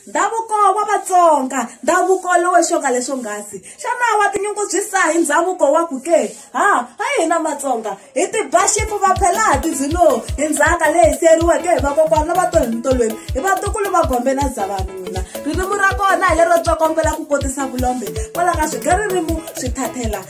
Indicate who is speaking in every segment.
Speaker 1: ndhavuko wa vatsonga ndhavuko lowo xonga leswo nghasi xana wa tinyungubyisa hi ndhavuko wa ku ke ha ha hina matsonga hi tiba xipu va phela ha tidzilo hi ndzhaka leyi siyeriweke hi vakokwana va to hi mintolweni hi vatukulu va gombe na zavanuna ririmi ra kona hi lero tsokombela ku kotisa vulombe kwala ka swi ga ririmi swi thathela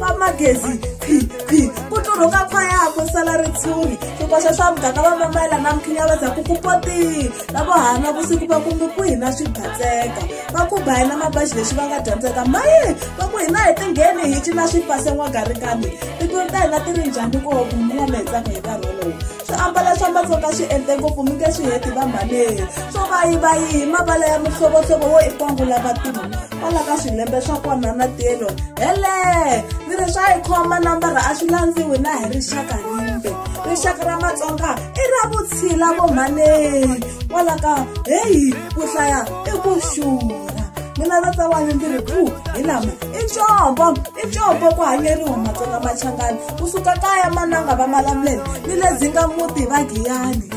Speaker 1: va magezi khwikhwi ku tlurhuka khwaya ku sala ritshuri swikoxa swa muganga va mamayela na mukhinya va dzaku ku potini lavo hana vusiku va kumbi ku hina swi batseka va ku ba hina mabaxi lexi va nga dyondzeka maye va ku hina hi tingheni hi cina swi pase n'wagarikani tikweni ta hina ti ri njhani ko kumbiwa mi hetsaka hi nkarhi wolowo swiambalo swa matsonga swi endle ngopfu mi nge swi heti va mhaneni swo vayivayihi mavala ya mihlovohlovo wo i kwangula vatimu kwala ka swilembe swa kona na telo hele ni ri swa yi khoma nambara a swi landziwi na hi rixaka rimbe rixaka ra matsonga i ra vutshila vo mhaneni kwala ka heyi ku hlaya i ku xura mina tata wa ni ndzi ri ku hi lama i ncombo i ncombo ku hanyeriwa matsonga machangani kusuka kaya mananga va malamulele ni le dzinga muti va giyani